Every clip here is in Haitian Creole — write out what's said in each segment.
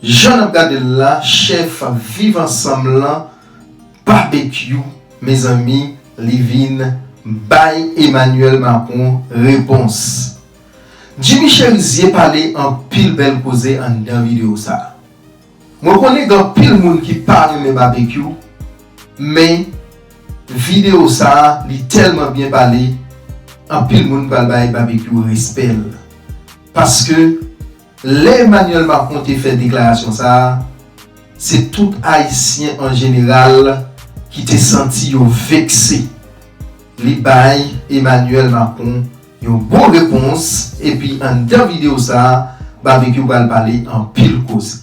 Jan nap gadel la chèf viv ansanm lan babekyou mezanmi li vin bay Emmanuel Macron repons Jimmy Cherizier pale anpil bèl koze anndan video sa mwen konnen gen anpil moun ki pa renmen babekyou men video sa li tèlman byen pale anpil moun pral bay babekyou respèl paske Lè Emmanuel Macron te fè deklarasyon sa, se tout Ayisyen an jeneral ki te santi yo vekse. Li bay Emmanuel Macron yon bon repons epi anndan videyo sa, Barbecue pral pale anpil koze.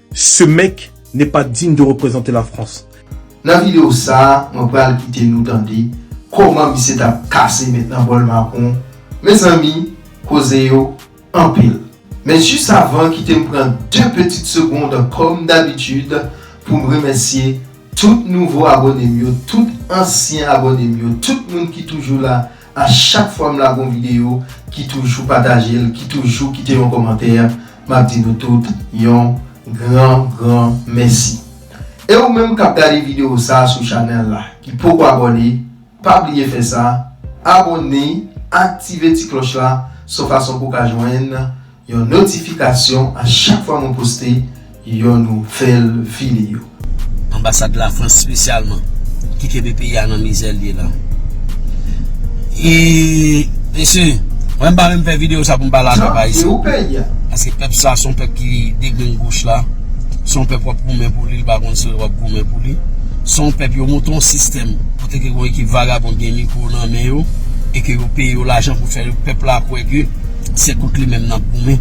Ce mec n'est pas digne de représenter la France. Nan video sa mwen pral kite nou tande koman misye tap kase met nan bol macron mezanmi koze yo anpil men jis avan kitem pran 2 petit segond kom dabitud poum remèsye tout nouvo abonem yo tout ansyen abonem yo tout moun ki toujou la A chak fwa m lage yon video ki toujou pataje l, ki toujou kite yon kòmantè, m ap di nou tout yon gran gran mèsi. E ou menm k ap gade video sa sou chanèl la, ki poko abòne, pa bliye fè sa, abòne, aktive ti klòch la, son fason pou w ka jwenn. Yon notifikasyon a chak fwa mwen poste yon nouvèl video. Anbasad Lafrans spesyalman ki kenbe peyi a nan mizè l ye la. E mesye, mwen m pa menm fè video sa pou m pale ak pèp ayisyen. Paske pèp sa son pèp ki degrengoch la. Son pèp wap goumen pou li, li pa konn si wap goumen pou li. Son pèp yo monte yon sistèm kote ke yon ekip vagabon gen mikwo nan men yo e ke yo peye yo lajan pou fè pèp la kwè ke. Se kont li menm nap goumen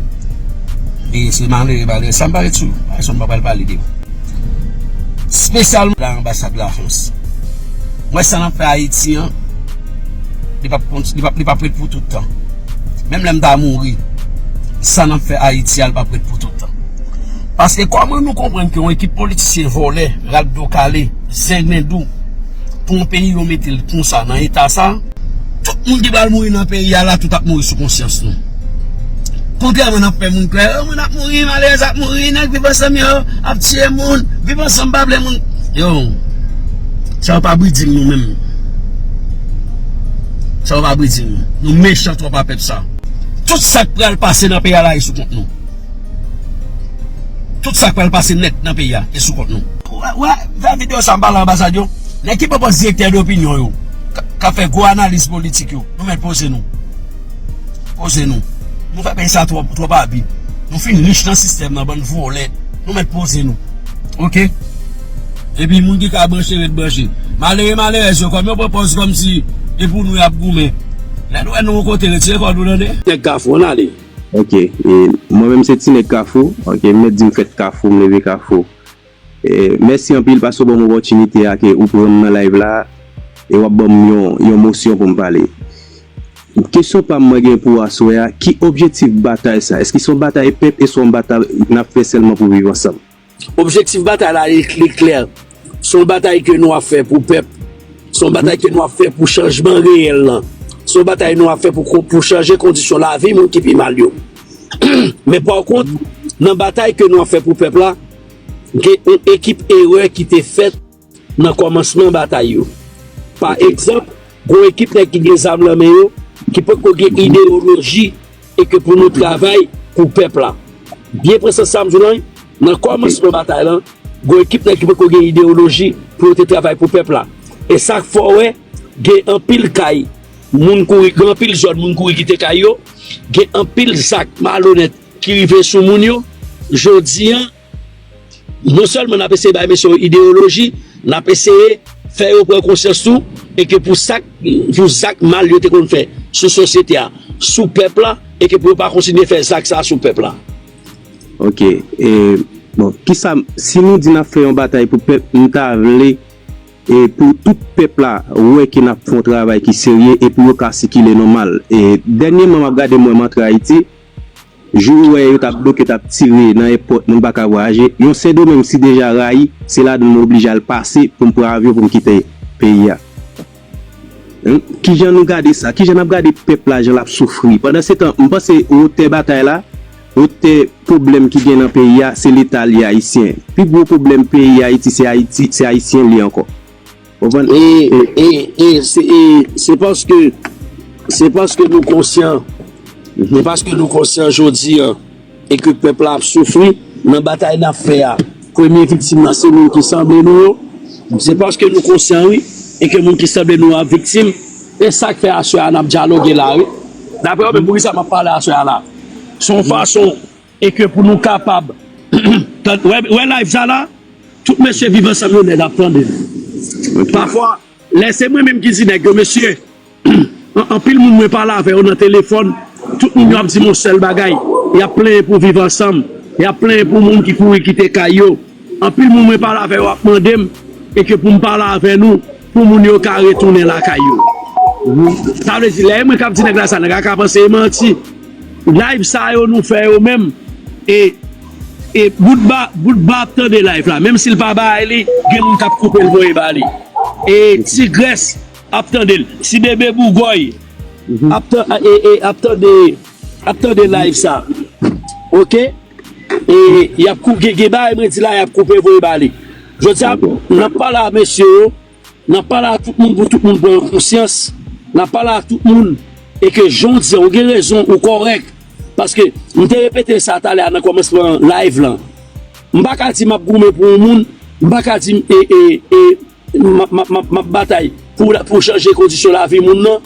E se malere malere sa mpa ret sou yo Ayisyen mpa pral pale de yo Spesyalman anbasad la frans Mwen sa nap fè ayiti an Li pap kont li pap li pap ret pou toutan Menm lèm ta mouri Sa nap fè ayiti a li pap ret pou toutan Paske kòman nou konprann ke yon ekip politisyen vòlè rat do kale zenglen dou Pou yon peyi yo metel konsa nan eta sa. Tout moun ki pral mouri nan peyi a la tout ap mouri sou konsyans nou. Kontrèman n ap fè moun kwè, oh moun ap mouri, malerèz ap mouri, nèg viv ansanm yo ap tiye moun, viv ansanm pa vle moun. Yo, sa yo pa briding nou menm. Sa yo pa briding nou. Nou mechan twòp a pèp sa. Tout sa k pral pase nan peyi a la e sou kont nou. Tout sa k pral pase nèt nan peyi a e sou kont nou. Wè, fè videyo sa m pale anbasad yo. Nèg ki pwopòz direktè dopinyon yo. kap fè gwo analiz politik yo nou mèt poze nou poze nou nou fè peyi sa twòp twòp abi nou fin rich nan sistèm nan bann vòlè nou mèt poze nou ok epi moun ki ka branche ret branche malere malerèz yo kòm yo pran pòz kòm si e pou nou yap goumen lè nou wè nou yon kote retire kò nou tande. Nèg kafou an ale. Ok e mwen menm se ti nèg kafou ok m mèt di m fèt kafou m leve kafou Mèsi anpil paske w banm opòtinite a ke ou pranm nan live la e wap banm yon mosyon poum pale. Kesyon pam mwen gen pou aswè a ki objetif batay sa? Eske se yon batay pèp eswa yon batay nap fè sèlman pou viv ansanm? Objektif batay la li klè, se yon batay ke nou ap fè pou pèp, se yon batay ke nou ap fè pou chanjman reyèl lan, se yon batay nou ap fè pou chanje kondisyon lavi moun ki pi mal yo. Men pa kont nan batay ke nou ap fè pou pèp la, gen yon ekip erè ki te fèt nan kòmansman batay yo. Pa egzanp, gon ekip nèg ki gen zam lan men yo ki potko gen ideyoloji e ke pou nou travay pou pèp la. Byen pran sans sa m di w lan wi, nan kòmansman batay lan, gon ekip nèg ki potko gen ideyoloji pou yo te travay pou pèp la. E sa k fè w wè gen anpil kay moun kouri, gen anpil zòn moun kouri kite kay yo, gen anpil zak malonèt. ki rive sou moun yo jodi an non sèlman n ap eseye bay mesye yo ideyoloji n ap eseye fè yo pran konsyans tou e ke pou sak pou zak mal yo te konn fè sou sosyete a sou pèp la e ke pou yo pa kontinye fè zak sa sou pèp la. Ok e bon kisa si nou di n ap fè yon batay pou pèp m ta vle e pou tout pèp la wè ke n ap fè yon travay ki serye e pou yo ka sikile nòmal e dènyeman m ap gade m wè m antre ayiti Jou ou wè yo tap bloke tap tire nan èpòt moun pa ka vwayaje, yon sendomeng m si deja rayi se ladann mwen oblije al pase pou m pran avyon pou m kite peyi a humm kijan nou gade sa kijan nap gade pèp la jan lap soufri pandan se tan m panse wotè batay la wotè pwoblèm ki gen nan peyi a se leta li ayisyen pi gwo pwoblèm peyi ayiti se ayiti se ayisyen li ankò. Ou konprann? E, e, e, se, e, se paske, se paske nou konsyan, se paske nou konsyan jodi an, e ke pèp la ap soufri, nan batay n ap fè a, premye viktim nan se moun ki sanble nou yo, se paske nou konsyan wi, e ke moun ki sanble nou yo ap viktim, e sa k fè aswè a n ap dyaloge la wi. Dapre ou menm, poukisa m ap pale aswè a la? S on fason E ke pou nou kapab tand ou wè live sa la tout mesye viv ansanm yo nèg ap tande pafwa lè se mwen menm ki di nèg yo mesye anpil moun mwen pale avè yo nan telefòn tout moun yo ap di m yon sèl bagay yap plenyen pou viv ansanm yap plenyen pou moun ki kouri kite kay yo anpil moun mwen pale avè yo ap mande m e ke pou m pale avè nou pou moun yo ka retounen lakay yo sa vle di lè e mwen kap di nèg la sa nèg la ka panse e manti Live sa yo nou fè yo menm e e bout ba bout ba ap tande live la menm sil pa bay li gen moun kap koupel voye ba li e tigrès ap tandel ti bebe bougòy ap tan e e ap tande ap tande live sa ok e yap koupe gen gen bagay mwen di la yap koupe voye ba li jodi a nap pale a mesye yo. N ap pale a tout moun pou tout moun pran yon konsyans, n ap pale a tout moun e ke jan w di an, ou gen rezon, ou kòrèk. Paske m te repete sa talè a nan kòmansman live lan. M pa ka di m ap goumen pou yon moun, m pa ka di m ap batay pou chanje kondisyon lavi moun nan,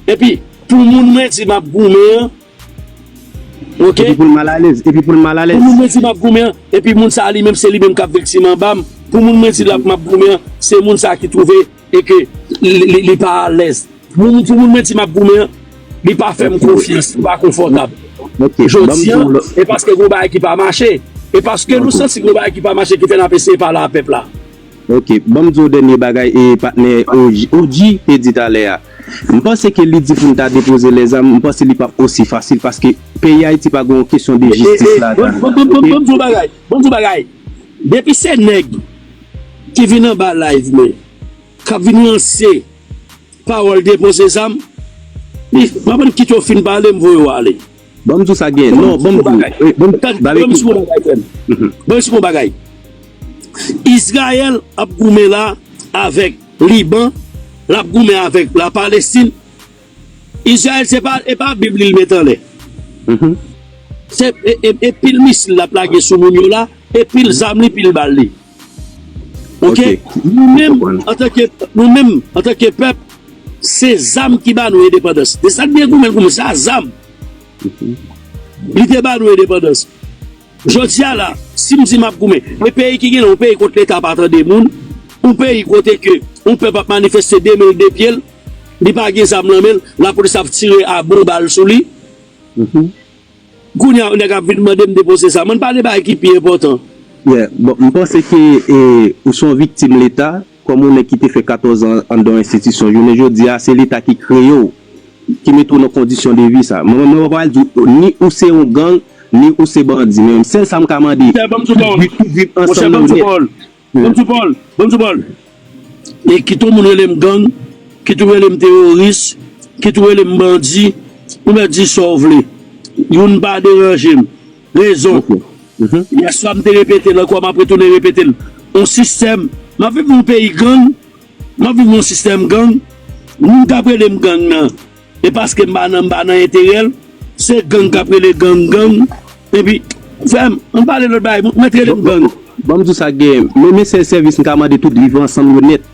epi pou moun mwen di m ap goumen an, Ok. Epi pou l mal alèz. Epi pou l mal alèz. Pou moun mwen di map goumen an, epi moun sa a li menm se li menm kap viktim anba m, pou moun mwen di lap map goumen an, se moun sa a ki twouve e ke li pa alèz. Pou moun mwen di map goumen an, li pa fè m konfyans, li pa konfòtab. Jodi an, e paske gon bagay ki pa mache. E paske nou santi gon bagay ki pa mache ki fè nap eseye pale a pèp la. Ok, banm di w dènye bagay e patnè OG te di talè a. M panse ke li di pou n ta depoze lèzam, m panse li pap osi fasil paske peyi Ayiti pa gen yon kesyon de jistis ladan l. Ok. Banm di w bagay, banm di w bagay, depi se nèg ki vin anba live mwen kap vin lanse pawòl depoze zam, m pa konn kit yo fin pale m voye yo ale. Banm di w sa gen non banm di w e banm tann banm di w yon bagay frè m banm di w yon bagay Israel ap goumen la avèk Liban lap goumen avèk la Palestine Israel se pa e pa bib li met anlè se e pil misil lap lage sou moun yo la e pil zam li pil bal li. Ok nou menm antanke nou menm antanke pèp se zam ki ba nou endepandans de sak byen goumen goumen sa zam lite ba nou endepandans jodi a la sim di map goumen e peyi ki genlè ou peyi kote leta pa tande moun ou peyi kote ke ou pèp ap manifeste de menl de pyel li pa gen zam nan menl lapolis ap tire a bon bal sou li. Kounya yon nèg ap vin mande m depoze sa. M'en pale bagay ki pi enpòtan. Yeah, bon, m panse ke ou son viktim leta, kòm yon nèg ki te fè 14 ans anndan yon enstitisyon, jounen jodi a se leta ki kreye w, ki mete w nan kondisyon de vi sa. Mwen pa pral di w ni ou se yon gang, ni ou se bandi, men sèl sa m ka mande, pou viv ansanm nan ou nèt. Bonjou Paul! Bonjou Paul! E kit ou moun rele m gang, kit ou rele m teworis, kit ou rele m bandi, ou mèt di sa w vle. Youn pa deranje m. Rezon, yè swa m te repete l ankò, m ap retounen repete l. On sistèm, m ap viv nan yon peyi gang, m ap viv nan yon sistèm gang, moun k ap rele m gang nan, E paske m pa nan m pa nan enterèl se gang kap rele gang gang epi frèm ann pale lòt bagay bon mèt rele m gang. Banm diw sa gen men men sèl sèvis m ka mande tout viv ansanm yo nèt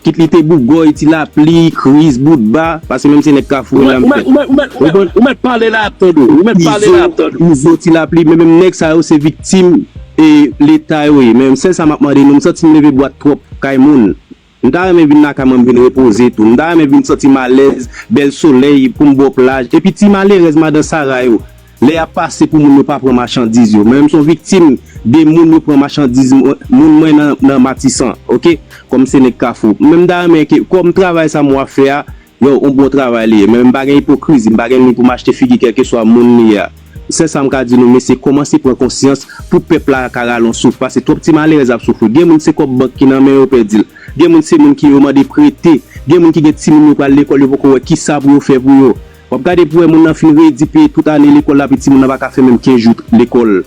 kit li te bougòy ti lapli kriz bout ba paske menm se nèg kafou mwen la m fèt ou konn izo ti lapli men menm nèg sa yo se viktim leta yo ye men sèl sa map mande nou m santim leve bwat twòp kay moun M ta renmen vin lakay mwen m vin repoze tou. M ta renmen vin santi m alèz, bèl solèy pou m bò plaj. Epi ti malerèz madan Sara yo, lè y ap pase pou moun yo pa pran machandiz yo. Mwen m son viktim de moun yo pran machandiz moun mwen nan Matisan ok. Kòm se nèg Kafou. Mwen m ta renmen ke kòm travay sa mwen ap fè a Yow on bon travay li ye men m pa gen ipokrizi m pa gen ni pou m achte figi kelkeswa moun li ye a sèl sa m ka di nou mesye komanse pran konsyans pou pèp la ka rale on souf pase twòp ti malerèz ap soufri gen moun se kòb bank ki nan men yo pèdi l gen moun se moun ki yo mande prete gen moun ki gen timoun yo pral lekòl yo poko wè kisa pou yo fè pou yo wap gade pou wè moun nan fin redi peye tout ane lekòl l api timoun nan pa ka fè menm 15 jou lekòl.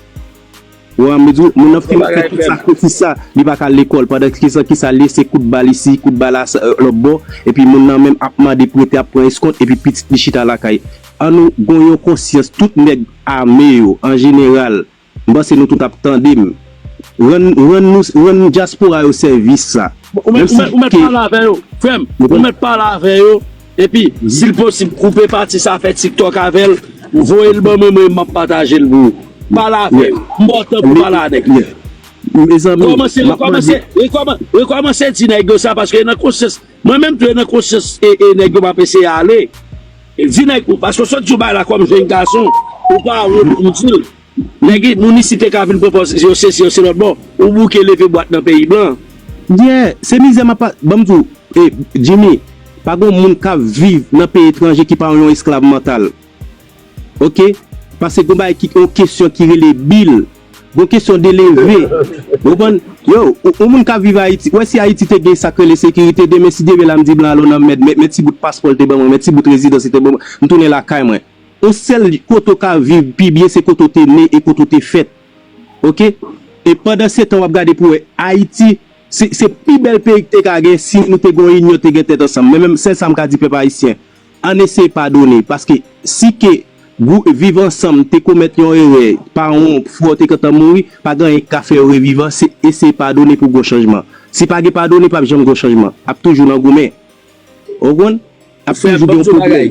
Wa m di w moun nan fè tout sakrifis sa li pa ka al lekòl pandan se ki sa l ye se kout bal isi kout bal lòtbò epi moun nan menm ap mande prete ap pran eskont epi pitit li chita lakay an nou gon yon konsyans tout nèg ame yo an jeneral m panse nou tout ap tande m rann rann nou rann dyaspora yo sèvis sa menm si ke Ou mèt pale avè yo frè m ou mèt pale avè yo. Epi sil posib koupe pati sa fè tiktok avèl voyel ban mwen mwen map patajel pou ou pale avè yo m baw tan pou pale a nèg la. Kòmanse rekòmanse rekòmanse di nèg yo sa paske e nan konsyans mwen menm tou e nan konsyans e nèg yo map eseye ale di nèg yo paske w sot di w bay la kòm jèn gason ou pa wont pou w dil. Nèg moun isi te ka vin pran pòz yo sesi yo selòt bò ou bouke leve bwat nan peyi blan. Yeah se mizè map pa banm di w e Jimmy pa gon moun kap viv nan peyi etranje ki pa yon esklav mantal ok pase gon bagay ki yon kesyon ki rele bil gon kesyon de leve ou konprann yo yon moun kap viv ayiti ou wè si ayiti te gen sak rele sekirite demen si Dye vle la m di blan al o nan mèd men ti bout paspò l te ban mwen men ti bout rezidans li te ban mwen m tounen lakay mwen. Ou sel kote ou ka viv pi byen se kote ou te ne e kote ou te fèt ok e pandan se tan wap gade pou wè ayiti se se pi bèl peyi k te ka gen si nou te gen yon inyon te gen tèt ansanm men menm sèl sam ka di pèp ayisyen ann eseye padone paske si ke gwou viv ansanm te komèt yon erè paran w ou frè w te gentan mouri pa gen anyen k ka fè yo reviv an se eseye padone pou gon chanjman si pa gen padone pap janm gon chanjman ap toujou nan goumen ou konn. Ap fè yon video konplè.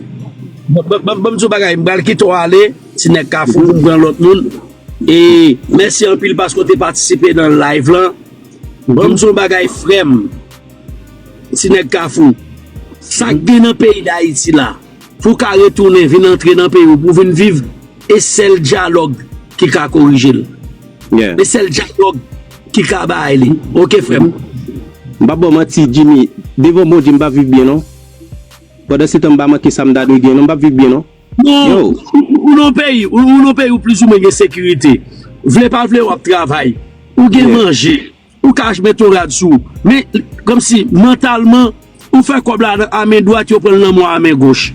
Banm diw bagay m pral kitew ale ti nèg kafou poum pran lòt moun e mèsi anpil paske ou te patisipe nan live lan banm diw bagay frèm ti nèg kafou sak gen nan peyi dayiti la pou ka retounen vin antre nan peyi ou pou vin viv E sel dialogue ki ka korijel. Yeah. E sel dialogue ki ka bay li. Ok frem. M pap baw manti Jimmy, devan Bondye m pap viv byen non. Pandan se tan m pa manke sa m ta dwe gen non m pap viv byen non. Yo! Ou nan peyi ou nan peyi ou plizoumwen gen sekirite. Vle pa vle wap travay. Ou gen manje. Ou ka ach met yon rad sou ou. Men, kòmsi, mantalman, ou fè kòb la a men dwat, yo pran l nan mwa a men goch.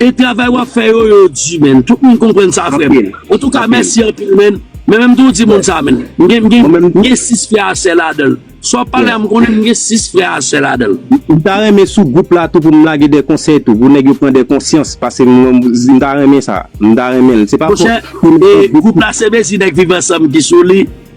E travay wap fè yo, yo di men. Tout moun konprann sa frè m. An tou ka, mèsi anpil men. Men men m tou di moun sa men. M gen, m gen 6 frè a sè ladan l. Sa wap pale a m konnen m gen 6 frè a sè ladan l. M ta renmen sou gwoup la tou pou m lage de konsèy tou. Pou nèg yo pran de konsyans. Pase m wè, m ta renmen sa. M ta renmen l. Se pa fòt pou m. Monchè, e gwoup la se mezi nèg viv ansanm ki sou li.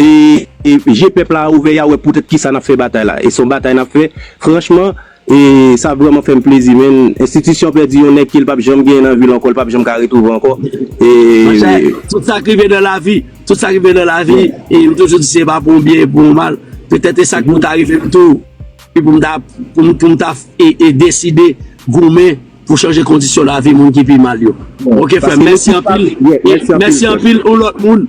E je pèp la a ouvè ya wè poutèt kisa nap fè batay la e son batay nap fè franchman e sa vrèman fèm plezi menn enstitisyon pèdi yon nèg kel pap janm genyen nan vil ankò l pap janm ka retrouve ankò e tout sak rive nan lavi tout sak rive nan lavi e m toujou di se pa pou yon byen e pou yon mal petèt e sak pou ta rive m tou e pou m ta pou m ta e deside goumen pou chanje kondisyon lavi moun ki pi mal yo ok frèm mèsi anpil mèsi anpil yon lòt moun.